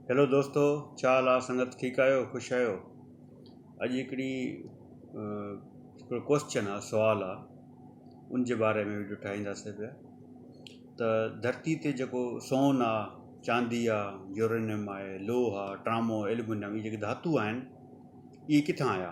Hello دوستو ڇا حال آ سنگت ٺيڪ آهيو خوش آهيو اڄ هڪڙي هڪڙو ڪوسچن آ سوال آ ان جي باري ۾ وڊيو ٺاهيندا سي پيا ته ڌرتي تي جيڪو سون آ چاندي آ يورينم آهي لوهه آ ٽرامو اليمنم هي جيڪي ڌاتو آهن اهي ڪٿان آيا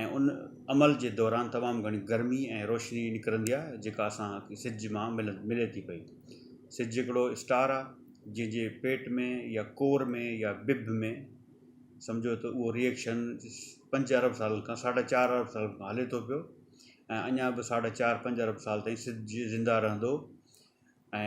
۽ ان عمل جي دوران تمام گهڻي گرمي ۽ روشني نڪرندي آهي جيڪا اسان کي سج مان ملي ٿي پئي. سج هڪڙو اسٽار آهي جنهن جي پيٽ ۾ يا ڪور ۾ يا بڀ ۾ سمجهو ته اهو ري ايڪشن پنج ارب سالن کان ساڍا چار ارب سالن کان هلي ٿو پيو ۽ اڃا به ساڍا چار پنج ارب سال تائين سج زنده رهندو ۽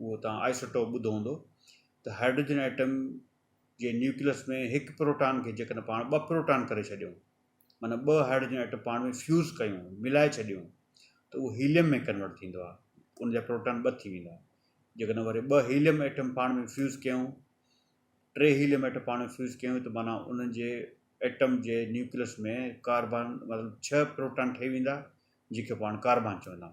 اهو توهان آئسوٽوپ ٻڌو هوندو ته هائڊروجن ائٽم جي نيوڪليس ۾ هڪ پروٽان کي جيڪڏهن پاڻ ٻه پروٽان ڪري ڇڏيون معنيٰ ٻه هائڊروجن ائٽم پاڻ ۾ فيوز ڪيون ملائي ڇڏيون ته اهو هيليم ۾ ڪنورٽ ٿيندو آهي ان جا پروٽان ٻه ٿي ويندا جيڪڏهن وري ٻه هيليم ائٽم پاڻ ۾ فيوز ڪيون ٽي هيليم ائٽم پاڻ ۾ فيوز ڪيون ته معنيٰ انهن جي ائٽم جي نيوڪليس ۾ ڪاربان مطلب ڇهه پروٽان ٺهي ويندا جيڪي پاڻ ڪاربان چوندا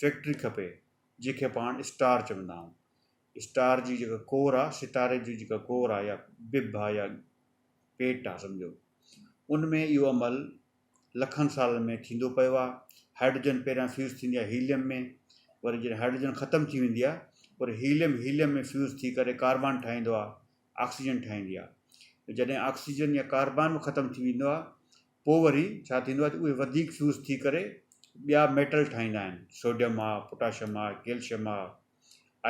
فيڪٽري کپي جنهن کي پاڻ اسٽار چوندا آهيون اسٽار جي جيڪا ڪور آهي ستاري جي جيڪا ڪور آهي يا بب آهي يا پيٽ آهي سمجهو ان ۾ اهو عمل لکن سالن ۾ ٿيندو پيو آهي هائڊروجن پهريان فيوز ٿيندي آهي هيليم ۾ وري جڏهن هائڊروجن ختم ٿي ويندي آهي وري هيليم هيليم ۾ فيوز ٿي ڪري ڪاربان ٺاهيندو آهي آڪسيجن ٺاهيندي آهي جڏهن آڪسيجن يا ڪاربان ختم ٿي ويندو آهي پوء وري ڇا ٿيندو آهي ته اهي وڌيڪ فيوز ٿي ڪري ٻيا ميٽل ٺاهيندا آهن سوڊيم آ پوٽاشيم آ ڪيلشيم آ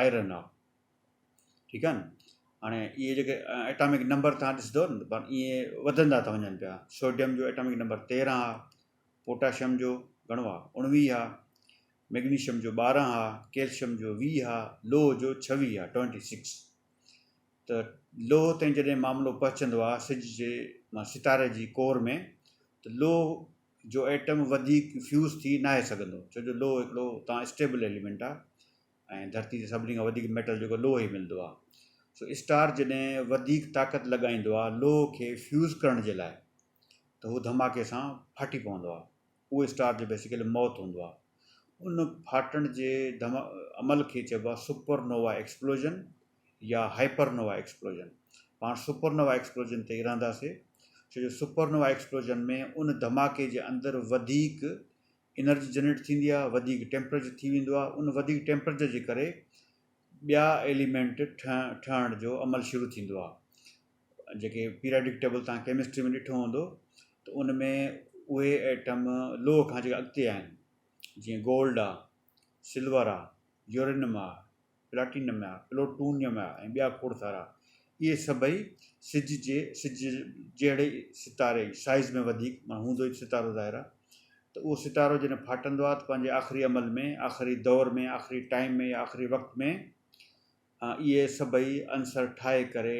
آئرن آ ٺيڪ آهي نه هاڻي اهي جيڪي ايٽامڪ نمبر تهان ڏسندو نه پر اهي وڌندا ٿا وڃن پيا سوڊيم جو ايٽامڪ نمبر تيرهن آ پوٽاشيم جو گهڻو آ اوڻويهه آ ميگنيشيم جو ٻارهن آ ڪيلشيم جو ويهه آ لوهه جو ڇويهه آ ٽوئنٽي سڪس ته لوهه تائين جڏهن معاملو پهچندو آهي سج جي مان ستاري جي ڪور ۾ ته لوهه جو ايٽم وڌيڪ فيوز ٿي ناهي سگهندو ڇو جو لوهه هڪڙو اتان اسٽيبل ايليمينٽ آهي ۽ ڌرتي تي سڀني کان وڌيڪ ميٽل جيڪو لوهه ئي ملندو آهي سو اسٽار جڏهن وڌيڪ طاقت لڳائيندو آهي لوهه کي فيوز ڪرڻ جي لاء ته هو ڌماڪي سان ڦاٽي پوندو آهي اهو اسٽار جو بيسيڪلي موت هوندو آهي ان ڦاٽڻ جي عمل کي چئبو آهي سپر نووا ايڪسپلوجن يا هائپر نووا ايڪسپلوزن. پاڻ سپر نووا ايڪسپلوزن تي ئي رهنداسين ڇو جو سپر نووا ايڪسپلوزن ۾ ان ڌماڪي جي اندر وڌيڪ انرجي جنريٽ ٿيندي آهي، وڌيڪ ٽيمپريچر ٿي ويندو آهي، ان وڌيڪ ٽيمپريچر جي ڪري ٻيا ايليمينٽ ٺهڻ جو عمل شروع ٿيندو آهي. جيڪي پيراڊڪ ٽيبل توهان ڪيمسٽري ۾ ڏٺو هوندو ته ان ۾ اهي ايٽم لوهه کان جيڪي اڳتي آهن جيئن گولڊ آهي، سلور آهي، يورينم آهي، پلاٽينم يا پلوٽونيم يا ۽ ٻيا کوڙ سارا اهي سڀئي سج جي سج جهڙي ستاري جي سائيز ۾ وڌيڪ معنيٰ هوندو هڪ ستارو ظاهر آهي ته اهو ستارو جڏهن ڦاٽندو آهي ته پنهنجي آخري عمل ۾ آخري دور ۾ آخري ٽائيم ۾ يا آخري وقت ۾ اهي سڀئي عنصر ٺاهي ڪري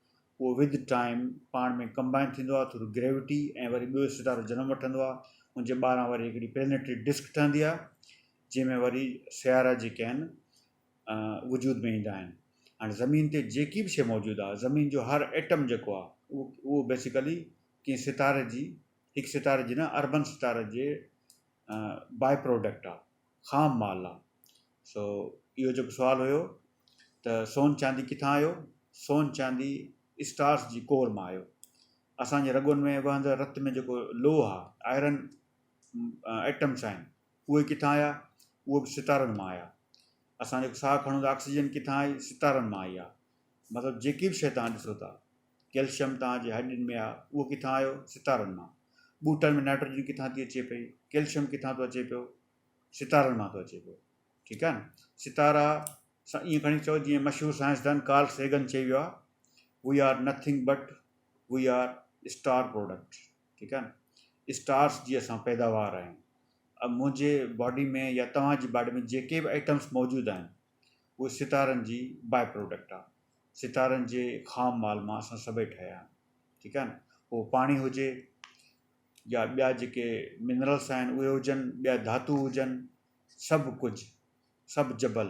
اهو ود ٽائيم پاڻ ۾ ڪمبائن ٿيندو آهي ٿرو گريوٽي ۽ وري ٻيو ستارو جنم وٺندو آهي ان جي ٻاهران وري هڪڙي پلينيٽري ڊسڪ ٺهندي آهي جنهن ۾ وري سيارا جيڪي آهن وجود ۾ ايندا آهن هاڻي زمين تي جيڪي به شيء موجود آهي زمين جو هر ايٽم جيڪو آهي اهو اهو بيسيڪلي ڪنهن ستاري جي هڪ ستاري جي نه اربن ستاري جي باء پروڊڪٽ آهي خام مال آهي سو اهو جيڪو سوال هيو ته سون چاندي ڪٿان آيو؟ سون چاندي اسٽارس جي ڪور مان آيو. اسان جي رڳن ۾ وهندڙ رت ۾ جيڪو لوهه آ، آئرن ايٽمس آهن، اهي ڪٿان آيا؟ اهي به ستارن مان آيا. اسان جيڪو ساهه کڻون ٿا، آڪسيجن ڪٿان آئي؟ ستارن مان آئي آ. مطلب جيڪي به شيء توهان ڏسو ٿا، ڪيلشم توهان جي هڏين ۾ آ، اهو ڪٿان آيو؟ ستارن مان. ٻوٽن ۾ نائٽروجن ڪٿان ٿي اچي پئي؟ ڪيلشم ڪٿان ٿو اچي پيو؟ ستارن مان ٿو اچي پيو. ٺيڪ آهي نه ستارا سان ائين کڻي چئو جيئن مشهور سائنسدان ڪارل سيگن چئي ويو آهي we are nothing but we are star product ٺيڪ آهي نه اسٽارس جي اسان پيداوار آهيون اب منهنجي باڊي ۾ يا توهان جي باڊي ۾ جيڪي به آئٽمس موجود آهن اهي ستارن جي باء پروڊڪٽ آهي ستارن جي خام مال مان اسان سڀئي ٺهيا آهيون ٺيڪ آهي نه پوء پاڻي هجي يا ٻيا جيڪي منرلس آهن اهي هجن ٻيا ڌاتو هجن سڀ ڪجهه، سڀ جبل،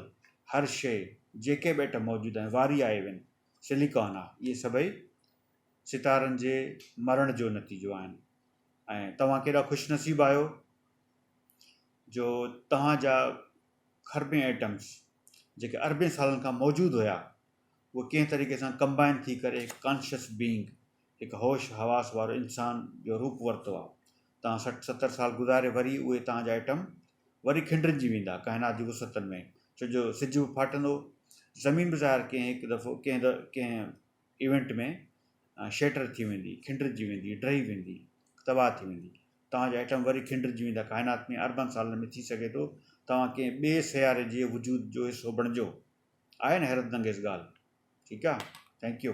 هر شيء، جيڪي به ايٽم موجود آهن، واري آهي وين سليڪان آهي. اهي سڀئي ستارن جي مرڻ جو نتيجو آهن ۽ توهان ڪيڏا خوش نصيب آهيو جو توهان جا کربين ايٽمز جيڪي اربين سالن کان موجود هيا اهي ڪنهن طريقي سان ڪمبائن ٿي ڪري هڪ ڪانشس بينگ هڪ هوش حواس وارو انسان جو روپ ورتو آ. توهان سٺ ستر سال گذاري وري اهي توهان جا ائٽم وري کنڊرنجي ويندا ڪائنات جي وسعتن ۾ ڇو جو سج به ڦاٽندو زمين به ظاهر ڪنهن هڪ دفعو ڪنهن د ڪنهن ايونٽ ۾ شيٽر ٿي ويندي کنڊرجي ويندي ڊهي ويندي تباهه ٿي ويندي توهان جا ائٽم وري کنڊرجي ويندا ڪائنات ۾ اربن سالن ۾ ٿي سگهي ٿو توهان ڪنهن ٻئي سياري جي وجود جو حصو بڻجو آهي نه حيرت انگيز ڳالهه ٺيڪ آ ٿينڪ يو.